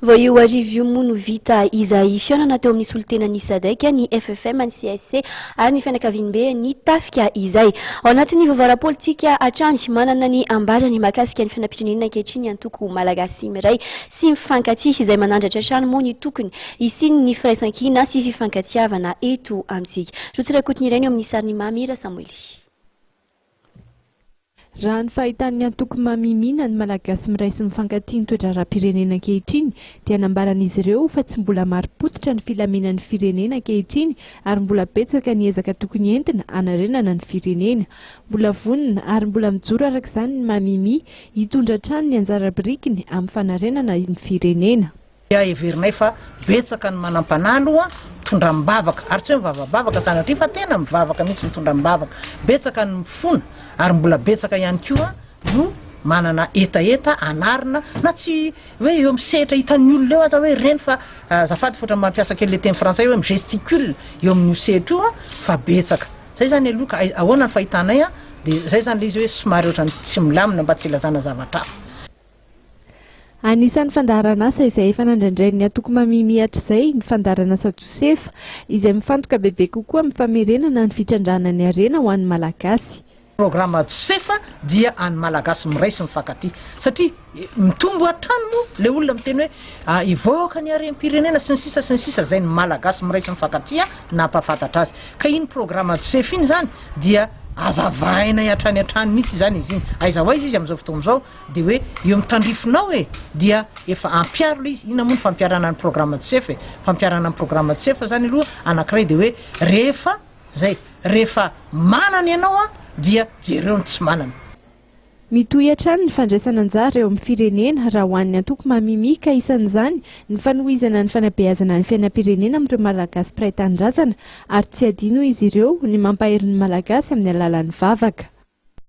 Vao io hariva io moa no vita izay fihaonana teo amin'ny solontenan'ny Sadec, ny FFM, ny CSC ary ny fianakaviambe ny tafika izay. Ao anatin'ny vaovao ara-politika hatrany, manana ny ambarany mahakasika ny fiainam-pirenena ankehitriny ny antoko Malagasy miray sy mifankatia izay manandratra hatrany moa ny tokony hisian'ny firaisankina sy fifankatiavana eto amintsika. Rotsy Rakotoniaina eo amin'ny sarin'i Mamy Rasamoily. Raha ny fahitan'ny antoko Mamimina ny Malagasy miray sy mifankatia ny toe-draharaham-pirenena ankehitriny dia nambaran'izy ireo fa tsy mbola marim-pototra ny filaminan'ny firenena ankehitriny ary mbola betsaka ny ezaka tokony entina hanarenana ny firenena. Mbola vonona ary mbola mijoro araka izany ny Mamimi hitondra hatrany ny anjara birikiny amin'ny fanarenana ny firenena. dia heverinay fa betsaka ny manampanahy aloha mitondra am-bavaka ary tsy hoe mivavabavaka sanatria fa tena mivavaka mihitsy mitondra am-bavaka, betsaka ny mifona ary mbola betsaka ihany koa no manana hetaheta hanarina na tsy hoe eo amin'ny sehatra hitan'ny olona eo aza hoe ireny fa azafady fa ohatran'ny mampiasa kely le teny frantsay hoe mi-gesticule eo amin'io sehatra io fa betsaka zay zany aloha ka ahoana ny fahitanay dia zay zany le izy hoe somary ohatran'ny tsy milamina mba tsy ilazana zavatra hafa Anisan'ny fandaharanasa izay efa nandrandrain'ny antoko Mamimia hatrizay ny fandaharanasa Josefa, izay mifantoka bebe kokoa amin'ny famerenana ny fitrandrahana ny harena ho an'ny Malagasy. Programa Josefa dia an'ny Malagasy miray sy mifankatia, satria mitombo hatrany moa ilay olona miteny hoe hivoaka ny harem-pirenena, sy ny sisa sy ny sisa, izay ny Malagasy miray sy mifankatia nampahafantatra azy. Ka iny programa Josefa iny izany dia hazavainay hatrany hatrany mihitsy izany izy iny. Aiza ho aiza izy amin'izao fotoana izao? Dia hoe eo amin'ny tandrifinao e! Dia efa ampiaro ilay izy, inona moa ny fampiarana ny programme CEF e! Fampiarana ny programme CEF izany aloha anankiray dia hoe rehefa izay, rehefa manana ianao an, dia jereo ny tsy manana. Mitohy hatrany ny fandraisana anjara eo amin'ny firenena raha ho an'ny antoko Mamimi ka isan'izany ny fanohizana ny fanabeazana ny fiainam-pirenena amin'ireo Malagasy mpiray tanindrazana ary tsy adino izy ireo ny mampahery ny Malagasy amin'ny alalan'ny vavaka.